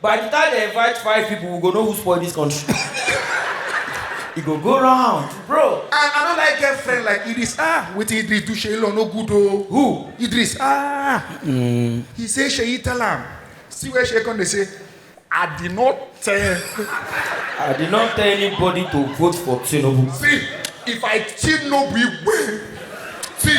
By the time they invite five people, we go know who spoil this country. e go go round, bro. I, I don't like get friend like Idris. Ah, wait till Idris do Sheila no good oh. Who? Idris. Ah. Mm. He say Sheyi tell am. See where Sheyi come dey say, I did not tell. I did not tell anybody to vote for Tinubu. See, if I Tinubu, see.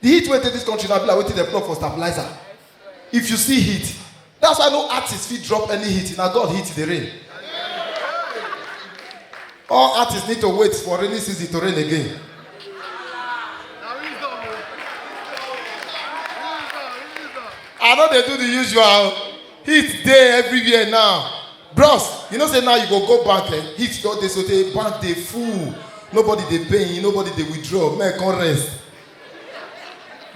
The heat wey dey this country na be like wetin dem plug for stabilizer. If you see heat, that's why no artist fit drop any heat, na God heat dey rain. All artists need to wait for rainy season to rain again. I no dey do the usual. Heat dey everywhere now. Bros, you know say now you go go bank, eh? heat don dey so tey bank dey full. Nobody dey pay, nobody dey withdraw, men come rest.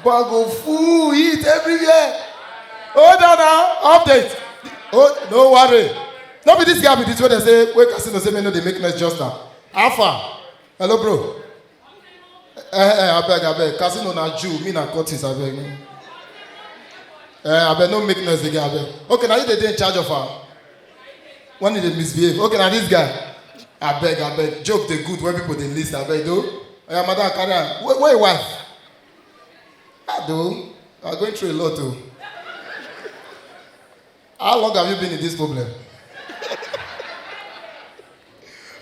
But go full it everywhere. Hold on now, update. Oh, no worry. No be this guy be this way they say, wait, casino say me no dey make noise just now. Alpha, hello bro. Eh, eh, abeg, abeg, casino na Jew, me na Curtis, abeg. Eh, abeg, no make noise again, abeg. Okay, now you dey dey in charge of am. when you dey misbehave okay na this guy abeg abeg joke dey good when people dey lis ten abeg do oya madam carry am where where your wife ah do you are going through a lot o how long have you been in this problem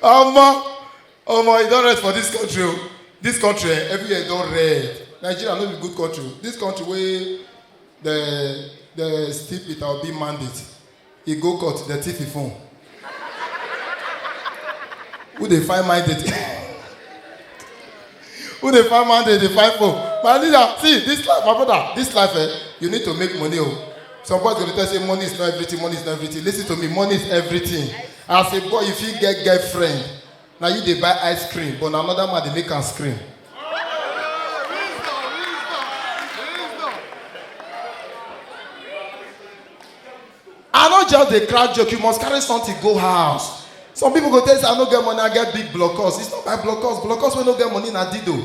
omo omo e don rest for this country o this country eh everywhere don red nigeria no be good country o this country wey dey dey steep peter obi mandate He go court, dem thief him phone. Who dey find my date? Who dey find my date? Dey find phone. My leader, see this life, my brother, this life, eh, you need to make money. Oh. Some boys go dey tell you, say money is not everything, money is not everything. Listen to me, money is everything. As a boy, you fit get girlfriend. Na you dey buy ice cream but na another man dey make am scream. I no just dey crack joke, you must carry something go house. Some people go tell you say I no get money, I get big blockers. It's not by blockers, blockers wey no get money na dido.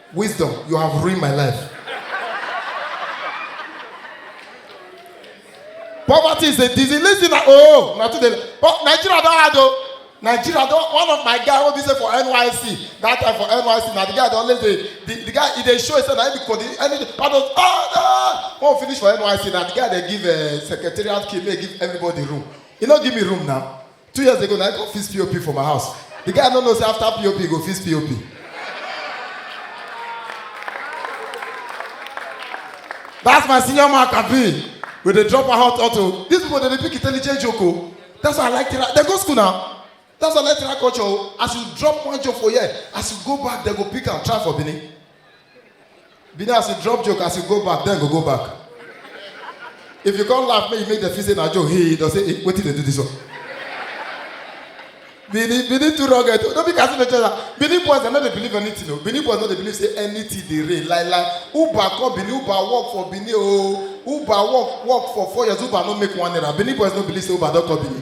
Wisdom, you have ruined my life. Poverty is a disease. Listen, oh, not today. But Nigeria don't have though. Nigeria don't. One of my guy will be say for NYC. That time for NYC, now the guy don't let the the, the guy he dey show himself na him be kodi any part of ah ah. When we finish for NYC, now the guy dey give uh, secretariat key, make he give everybody room. He no give me room now. two years ago na i come fix pop for my house the guy no know say after pop he go fix pop that's my senior man kabir we dey drop our hot auto these people dey dey pick intelligent joke o that's why i like tera dem go school na that's why i like tera culture o as you drop one joke for here as you go back dem go pick am try for benin be there as you drop joke as you go back then go go back if you come laugh make you make dem feel say na joke hey don say hey wetin dey do this one benin benin too rugged o no be kasi dey tell am benin boys dem no dey believe anything o benin boys no dey believe say anything dey rain like like uber come benin uber work for benin o uber work work for four years uber no make one naira benin boys no believe say uber don come benin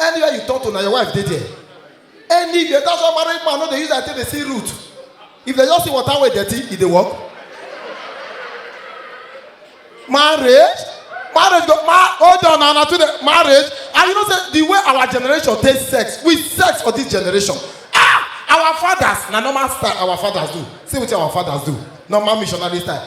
anywhere you turn to na your wife dey there anywhere that's why married man no dey use eye take dey see root if they just see water wey dirty e dey work marriage marriage go ma hold on na na too dey marriage and you know say the way our generation take sex we sex for this generation ah our fathers na normal style our fathers do see wetin our fathers do normal missionary style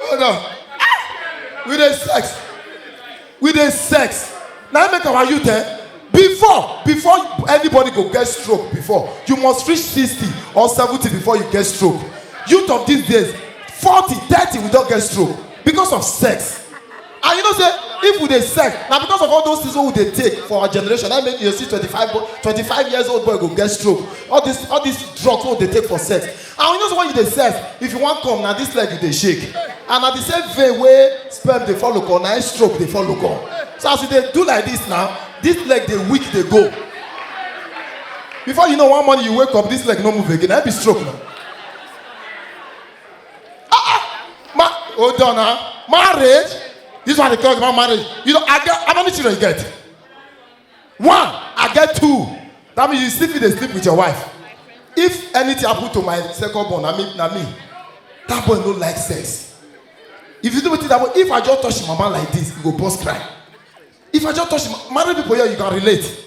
Hold on. Ah! We dey sex. We dey sex. Now make our youth eh? Before, before anybody go get stroke before, you must reach 60 or 70 before you get stroke. Youth of these days, 40, 30 we don't get stroke because of sex. and you know say if we dey sex na because of all those things wey we dey take for our generation na make you dey see twenty-five bo- twenty-five years old boy go get stroke all this all this drugs wey we dey take for sex and you know say when you dey sex if you wan come na this leg you dey shake and na the same vein wey sperm dey follow come na im stroke dey follow come so as you dey do like this now this leg dey weak dey go before you know one morning you wake up this leg no move again na im be stroke na Ah, ah. Ma, hold on, huh? Marriage? This one they call about marriage. You know, I get how many children you get? One, I get two. That means you sleep with they sleep with your wife. If anything happen to my second born, I mean, na me. That boy no like sex. If you do wetin that boy, if I just touch him mama like this, he go burst cry. If I just touch him, married people here, you can relate.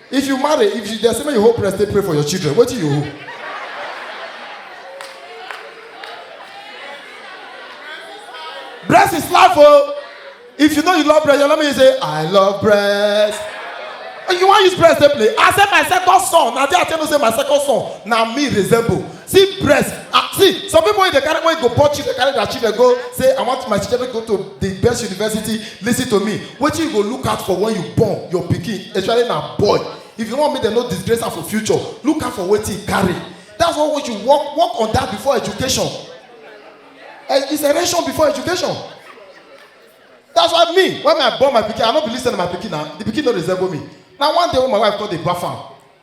if you marry if you dey say make you hold breast take pray for your children wetin you hold. breast is life o oh. if you know you love breast your mama you say i love breast you wan use breast take play i say my second son na there i tell you say my second son na me resemble see breast ah see some people wey dey carry wey go born children carry their children go say i want my children go to the best university lis ten to me wetin you go look out for when you born your pikin especially na boy if you wan make dem no disgrace am for future look out for wetin e carry that's why we should work work on that before education eh, it's erection before education that's why me when i born my pikin i no believe say na my pikin na the pikin no resemble me na one day when my wife come dey baff am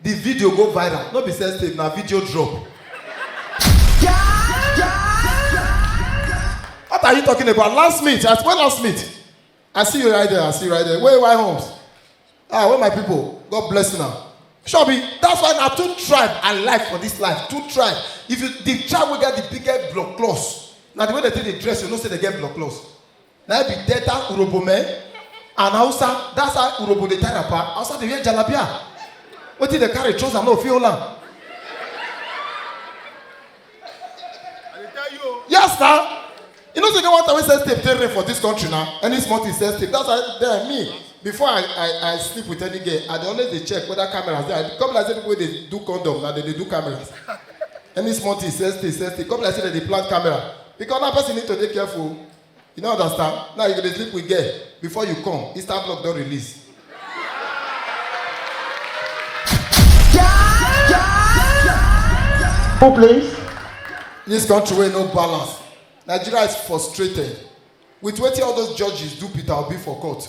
The video go viral, no be sex tape, na video drop. What are you talking about? Last meet, at when last meet? I see you right there, I see you right there. Where why homes? Ah, where my people? God bless you now. Shobi, that's why na two tribe I like for this life. Two tribe. If you the tribe wey get the biggest blood close, na the way they take dey dress, you know say they get blood close. na be delta urobo men and hausa that's how urobo dey tie wrapper hausa dey wear jalabia wetin dey carry trouser no fit hold am yes na you know say get one time wey sex tape dey rare for dis country na any small thing sex tape that's why then me before i i i sleep with any girl i dey always dey check whether cameras dey i come be like say people wey dey do condom na dem dey do cameras any small thing sex tape sex tape come be like say dem dey plant camera because now person need to dey careful o. You no understand? Now you go dey sleep with girl before you come, Insta block don release. Who please? This country wey no balance. Nigeria is frustrated with wetin all those judges do Peter Obi for court.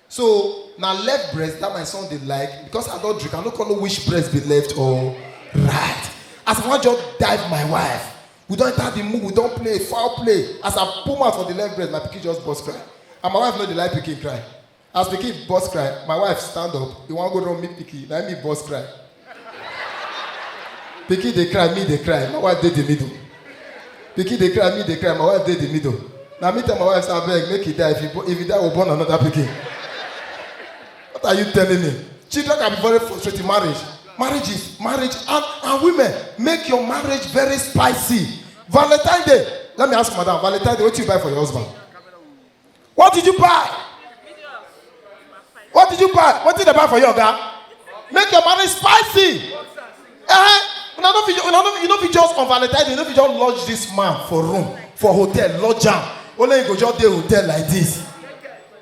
So na left breast that my son dey like because I don drink, I no come know which breast be left or right. As I wan just dive my wife, we don enter the mood, we don play foul play. As I pull mouth for the left breast, my pikin just burst cry. And my wife no dey like pikin cry. As pikin burst cry, my wife stand up, he wan go run meet pikin, na him me burst cry. Pikin dey cry, me dey cry. My wife dey the middle. Pikin dey cry, me dey cry. My wife dey the middle. Now me tell my wife, say, abeg, make he die. If he, bo- if he die, we'll born another pikin. What are you telling me? Children can be very frustrating. Marriage, marriage is marriage, and, and women make your marriage very spicy. Valentine Day. Let me ask madam. Valentine Day, what you buy for your husband? What did you buy? What did you buy? What did they buy for you, Oga? Make your marriage spicy. Eh? Una no fit, una no, you no fit just on Valentine's, you no fit just lodge this man for room, for hotel, lodge am. Only you go just dey hotel like this.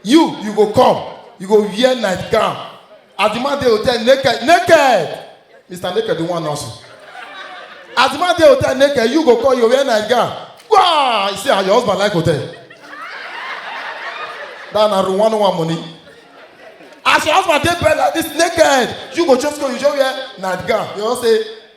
You, you go come, you go wear nightgown, As the man dey hotel naked, naked. Mr. Naked, the one also. As the man dey hotel naked, you go call your wear night gown. Wow! You see how your husband like hotel. That na room one one money. As your husband dey bed like this naked, you go just go, you just wear night gown. You know say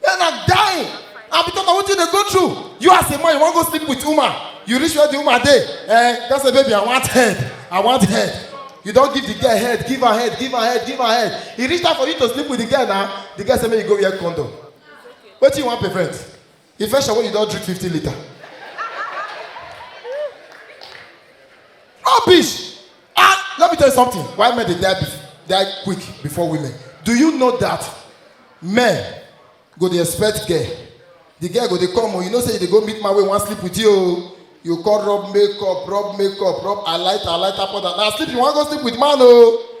Men are dying. And because of what you dey go through, you as a man, you wan go sleep with woman. You reach where the woman dey. Eh, just say, baby, I want head. I want head. You don give the girl head, give her head, give her head, give her head. E reach time for you to sleep with the girl now. The girl say make you go wear condom. Wetin you wan prevent? Infection wey you don drink fifty litre. Rubbish! Ah, let me tell you something. Why men they die, die quick before women? Do you know that men go they expect girl? The girl go they come, oh, you know say they go meet my way, one sleep with you. Oh. You call rub makeup, rub makeup, rub I light, I light up. Now sleep, you want to go sleep with man, oh.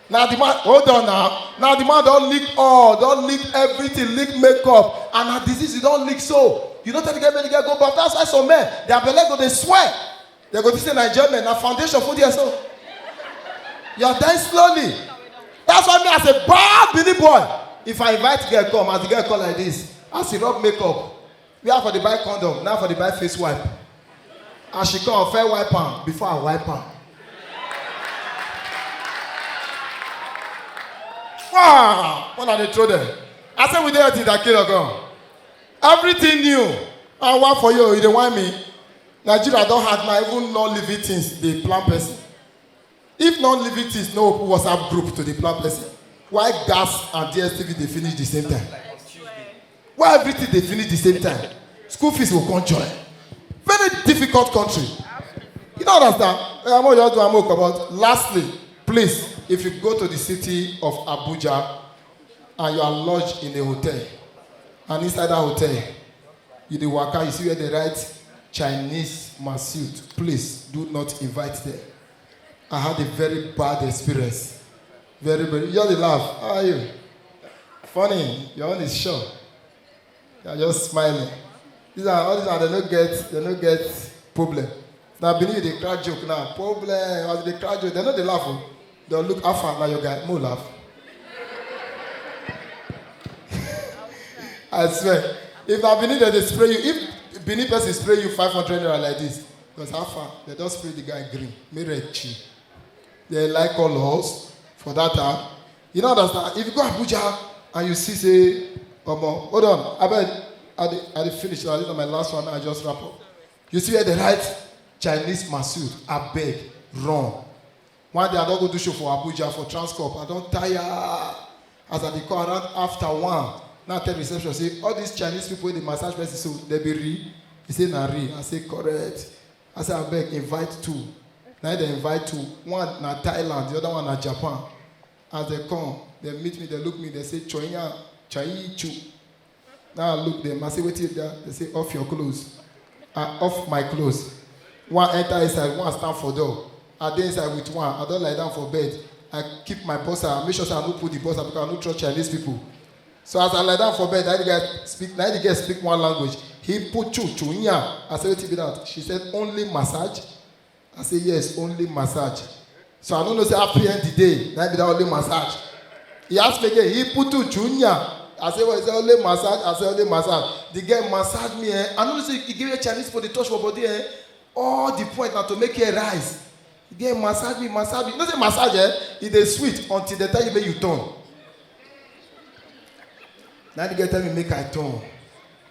na the man hold on now na the man don lick all don lick everything lick makeup and na disease you don lick so you no tell the girl make the girl go baff that's why some men their belle go dey swell they go think say na enjoyment na foundation full there so you are dying slowly that's why me as a bad bini boy if i invite girl come as the girl come like this as he rub makeup where i for dey buy condom na i for dey buy face wipe as she come fair wipe am before i wipe am wow when i dey throw them i say we dey healthy than kilo gan everything new and one for you you dey whine me nigeria don hard na even non living things dey plan person If non-living things no open WhatsApp group to dey plan blessing, why gas and DSTV dey finish the same time? Why everything dey finish the same time? School fees go come join. Very difficult country. You don't understand? Eh, I'm all you do, I'm all about. Lastly, please, if you go to the city of Abuja, and you are lodged in a hotel and inside that hotel you dey waka you see where they write chinese massute please do not invite them i had a very bad experience very very you just dey laugh how are you funny your own is sure you are just smiling these are all these are they no get they no get problem na benin you dey crack joke now problem as you dey crack joke dem no dey laugh o dem look how far na your guy mo laugh i swear if na benin dem dey spray you if benin person spray you five hundred naira like this because how far dem don spray the guy green make red chill they like colours for that time you no understand if you go abuja and you see say omo hold on abeg i dey i dey finish na this na my last one i just wrap up You see where they write Chinese Masood, abeg, run. One day I don go do show for Abuja for Transcorp. I don tire as I dey come around after one. Now I tell reception say all these Chinese people wey dey massage person so they be real. He say na real. I say correct. I say abeg invite two. Na him dey invite two. One na Thailand, the other one na Japan. As they come, they meet me, they look me, they say Choyan, Chayi Chu. Now I look them, I say, wait till there. They say, off your clothes. I off my clothes. One enter inside, one stand for door. I dey inside with one, I don't lie down for bed. I keep my bossa, I make sure say I no put the bossa because I no trust Chinese people. So as I lie down for bed, na the guy speak, na the girl speak one language. He put chu chu nya. I say, wait till be that. She said, only massage. I say yes, only massage. So I don't know say happy end the day, na be that only massage. He ask me again, he put to junior. I say well, he say only massage, I say only massage. The girl massage me eh. I know say he give me Chinese for the touch for body eh. All the point na to make hair rise. The girl massage me, massage me. You know say massage eh, e dey sweet until the time you make you turn. Now the girl tell me make I turn.